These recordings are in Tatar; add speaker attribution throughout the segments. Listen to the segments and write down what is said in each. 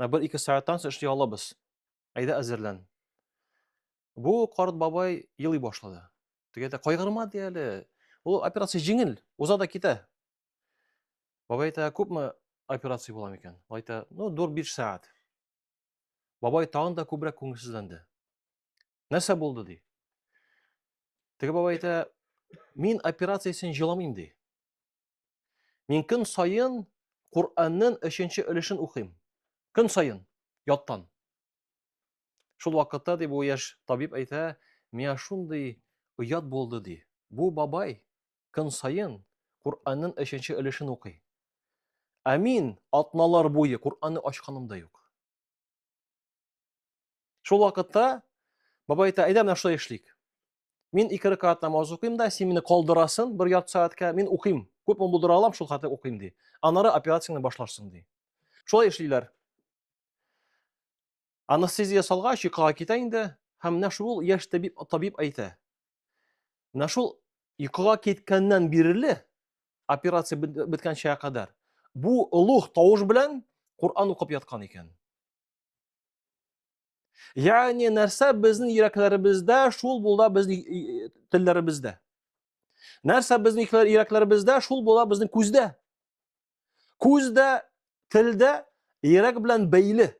Speaker 1: Ә бер ике сәгатьтән соң эшли алабыз. Әйдә әзерлән. Бу карт бабай елый башлады. Теге дә кайгырма ди әле. Ул операция җиңел, уза да китә. Бабай әйтә, күпме операция була микән? Ул әйтә, ну, 4-5 сәгать. Бабай тагын да күбрәк күңелсезләнде. Нәрсә булды ди? Теге бабай әйтә, мин операциясен җыламыйм ди. Мин көн саен Коръәннән өченче өлешен укыйм. Көн саен, яттан. Шул вакытта, ди бу яшь табиб әйтә, миңа шундый оят булды, ди. Бу бабай көн саен Коръәннән өченче өлешен укый. Ә мин атналар буе Коръәнне ачканым да юк. Шул вакытта бабай әйтә, әйдә менә шулай эшлик. Мин ике рәкәгать намаз укыйм да, син мине калдырасын бер ярты сәгатькә, мин укыйм. Күпме булдыра алам, шул хәтле укыйм ди. Аннары операцияне башларсың ди. Шулай эшлиләр. Анестезия салгач, йокыга китә инде, һәм менә шул яшь табиб, табиб әйтә. Менә шул йокыга киткәннән бирле операция беткәнчә кадәр бу олуг тавыш белән Коръан укып яткан икән. Ягъни нәрсә безнең йөрәкләребездә, шул булда безнең телләребездә. Нәрсә безнең йөрәкләребездә, шул була безнең күздә. Күздә, телдә, йөрәк белән бәйле.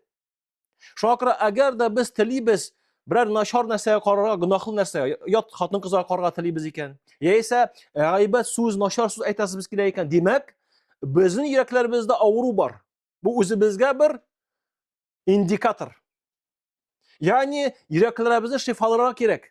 Speaker 1: Шуңа күрә әгәр дә без телибез берәр начар нәрсәгә карарга, гөнаһлы нәрсәгә, ят хатын кызга карарга телибез икән, яисә э, гайбәт сүз, начар сүз әйтәсебез килә икән, димәк, безнең йөрәкләребездә авыру бар. Бу үзебезгә бер индикатор. Ягъни йөрәкләребезне шифаларга кирәк.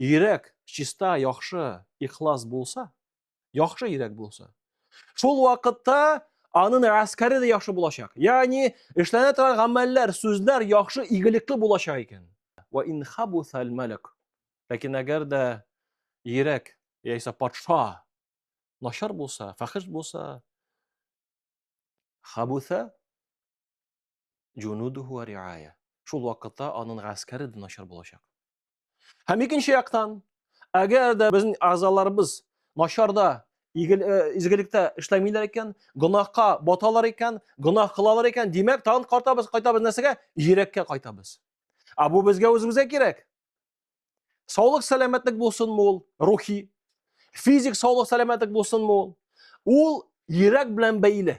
Speaker 1: Йөрәк чиста, яхшы, ихлас булса, яхшы йөрәк булса, шул вакытта аның әскәре дә яхшы булачак. Ягъни эшләнә торган гамәлләр, сүзләр яхшы, игелекле булачак икән. Ва ин хабусал малак. Ләкин әгәр дә йөрәк яисә патша начар булса, фәхиш булса, хабуса җунудуху риая. Шул вакытта аның гаскәре дә начар булачак. Һәм икенче яктан, әгәр дә безнең әгъзаларыбыз начарда изгелектә эшләмиләр икән, гөнаһка баталар икән, гөнаһ кылалар икән, димәк, тагын кайтабыз, кайтабыз нәрсәгә? Йөрәккә кайтабыз. Ә бу безгә үзебезгә кирәк. Саулык сәламәтлек булсынмы ул рухи, физик саулык сәламәтлек булсынмы ул? Ул йөрәк белән бәйле.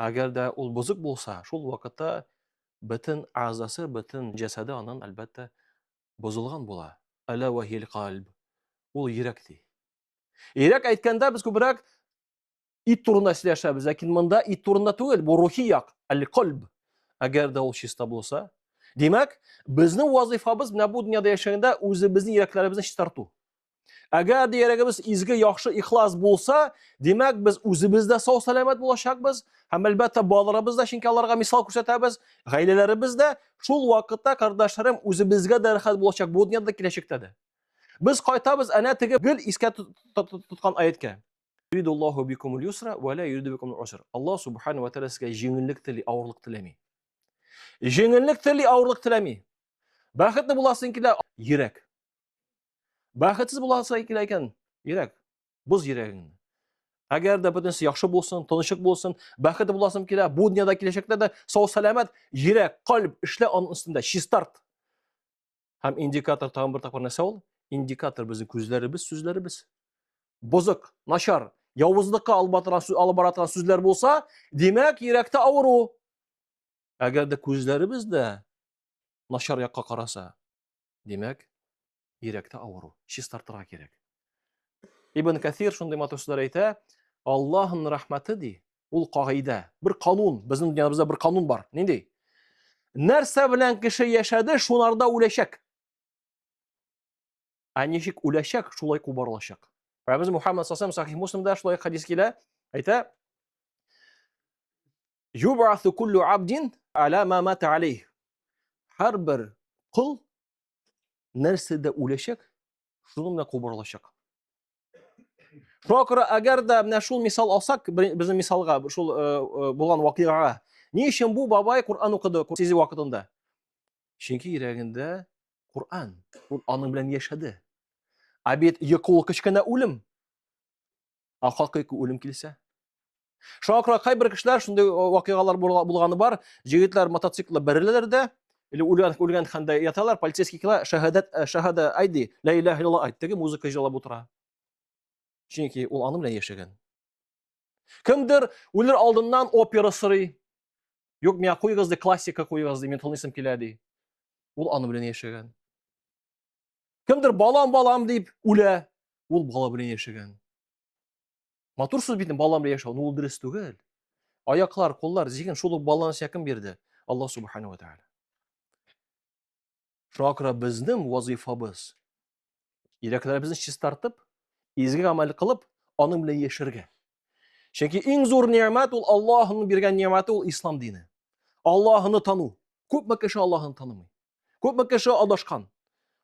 Speaker 1: Әгәр дә ул бозык булса, шул вакытта бөтен әгъзасы, бөтен җәсәде анын, әлбәттә, бозылган була. Әлә вәһил кальб. Ул йөрәк ди. Йөрәк әйткәндә без күбрәк ит турында сөйләшәбез, ләкин монда ит турында түгел, бу рухи як, әл-кальб. Әгәр дә ул чиста булса, димәк, безнең вазыйфабыз менә бу дөньяда яшәгәндә үзебезнең йөрәкләребезне чистарту. Әгәр дә йөрәгебез изге, яхшы, ихлас булса, димәк, без үзебез дә сау сәламәт булачакбыз һәм әлбәттә балаларыбыз да, чөнки аларга мисал күрсәтәбез, гаиләләребез дә, шул вакытта кардәшләрем үзебезгә дә рәхәт булачак бу дөньяда киләчәктә дә. Без кайтабыз әнә теге гел искә тоткан аяткә. Юридуллаху бикумул юсра ва ла юриду бикумул уср. Аллаһ субхану ва тааля сезгә җиңеллек тели, авырлык теләми. Җиңеллек тели, авырлык теләми. Бәхетле буласың килә, йөрәк. Бәхетсез буласы килә икән, йөрәк, боз йөрәгеңне. Әгәр дә бөтенесе яхшы булсын, тынычык булсын, бәхет буласым килә, бу дөньяда киләчәктә дә сау сәламәт, йөрәк, калб эшлә аның өстендә, чистарт. Һәм индикатор тагын бер тапкыр нәрсә ул? Индикатор безнең күзләребез, сүзләребез. Бозык, начар, явызлыкка алып бара торган сүзләр булса, димәк, йөрәктә авыру. Әгәр дә күзләребез дә начар якка караса, Димәк, йөрәктә авыру, чистартырга кирәк. Ибн Кәсир шундый матур сүзләр әйтә, Аллаһның рәхмәте ди, ул кагыйдә, бер канун, безнең дөньябызда бер канун бар. Нинди? Нәрсә белән кеше яшәде, шунарда үләчәк. Ә ничек үләчәк, шулай кубарылачак. Пәйгамбәрбез Мухаммад саллаллаху алейхи ва сахих Муслимда шулай хадис килә, әйтә, Юбасу куллю абдин аля ма мата алейх. Һәрбер кол нәрсәдә үләчәк, шуны менә кубырылачак. Шуңа күрә, әгәр дә менә шул мисал алсак, безнең мисалга, шул э, э, булган вакыйгага, ни өчен бу бабай Коръән укыды сизү вакытында? Чөнки йөрәгендә Коръән, ул аның белән яшәде. Ә бит йокы ул кечкенә үлем. Ә хакыйкы үлем килсә? Шуңа күрә кайбер кешеләр шундый вакыйгалар булганы бар, җегетләр мотоциклда бәреләләр дә, или үлгән үлгән хәндә яталар, полицейский кила, шәһадәт э, шәһада айди, ла илаһ илла айт, теге музыка җырлап утыра. Чөнки ул аны белән яшәгән. Кемдер үлер алдыннан опера сорый. Юк, миңа куйгыз ди, классика куйгыз ди, мин тылнысым килә ди. Ул аны белән яшәгән. Кемдер балам, балам дип үлә. Ул бала белән яшәгән. Матур сүз бит балам белән яшәү, ул дөрес түгел. Аяклар, куллар, зиһен шул ук баланы сиңа кем бирде? Алла субхана ва тааля. Шуңа күрә безнең вазифабыз йөрәкләребезне чистартып, изге гамәл кылып, аның белән яшәргә. Чөнки иң зур ниәмәт ул Аллаһның биргән ниәмәте ул ислам дине. Аллаһны тану. Күпме кеше Аллаһны танымый? Күпме кеше адашкан?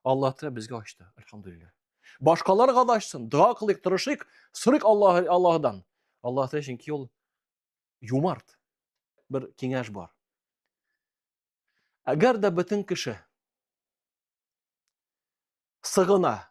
Speaker 1: Аллаһ Тәгалә безгә ачты, альхамдулиллах. Башкаларга да ачсын, дога кылыйк, тырышыйк, сорыйк Аллаһ Аллаһдан. Аллаһ Тәгалә чөнки ул юмарт. Бер киңәш бар. Әгәр дә бөтен кеше сыгына,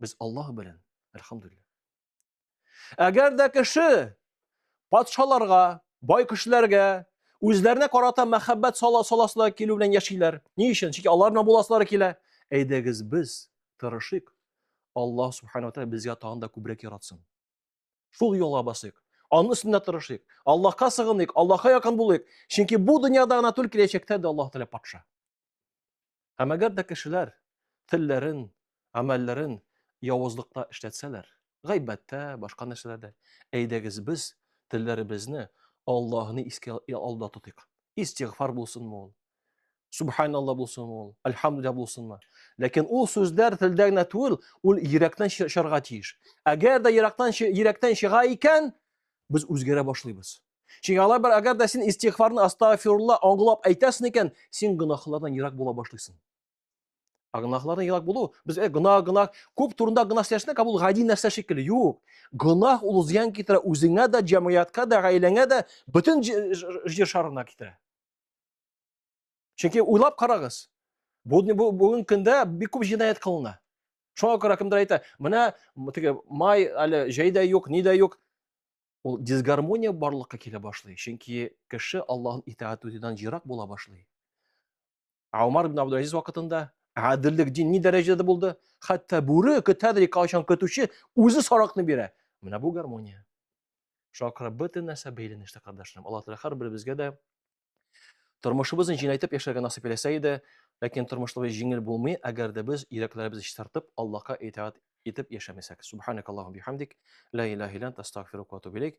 Speaker 1: Без Аллаһ белән, әлхамдулилла. Әгәр дә кеше патшаларга, бай кешеләргә, үзләренә карата мәхәббәт сала саласына килү белән яшиләр. Ни өчен? Чөнки аларына буласылары килә. Әйдәгез без тырышыйк. Аллаһ субхана ва тәгалә безгә тагын да күбрәк яратсын. Шул юлга басыйк. Аның өстендә тырышыйк. Аллаһка сыгыныйк, Аллаһка якын булыйк. Чөнки бу дөньяда гына түгел, киләчәктә дә Аллаһ Тәгалә патша. Һәм әгәр дә кешеләр телләрен, амәлләрен явызлыкта эшләтсәләр, гайбәттә, башка нәрсәләрдә, әйдәгез без телләребезне Аллаһны искә алда тотыйк. Истигъфар булсынмы ул? Субханалла булсын ул, альхамдулилля булсынмы. Ләкин ул сүзләр телдә генә түгел, ул йөрәктән чыгарга тиеш. Әгәр дә йөрәктән йөрәктән чыга икән, без үзгәрә башлыйбыз. Чөнки алар бер әгәр дә син истигъфарны астагфирулла аңлап әйтәсең икән, син гөнаһлардан ерак була башлыйсың. Ә гөнаһлардан ерак булу, без э, гөнаһ, гөнаһ, күп турында гөнаһ сөйләшсәк, бу гади нәрсә шикелле. Юк. Гөнаһ ул зыян китерә үзеңә дә, җәмгыятькә дә, гаиләңә дә, бөтен җир шарына китерә. Чөнки уйлап карагыз. Бүген көндә бик күп җинаять кылына. Шуңа күрә кемдер әйтә, менә теге май әле җәй дә юк, ни дә юк. Ул дисгармония барлыкка килә башлый. Чөнки кеше Аллаһын итаат итүдән җирак була башлый. Умар ибн Абдул Азиз вакытында әдиллек дин ни дәрәҗәдә булды? Хәтта бүре көтәдер кайчан көтүче үзе саракны бирә. Менә бу гармония. Шуңа күрә бөтен нәрсә бәйләнештә, кардәшләрем. Аллаһ Тәгалә һәрберебезгә дә тормышыбызны җиңеләйтеп яшәргә насыйп итсә иде, ләкин тормышыбыз җиңел булмый, әгәр дә без йөрәкләребезне чистартып, Аллаһка итаат итеп яшәмәсәк. Субханакаллаһу бихамдик, ла илаһа илля анта, астагфирука ва атубу илейк.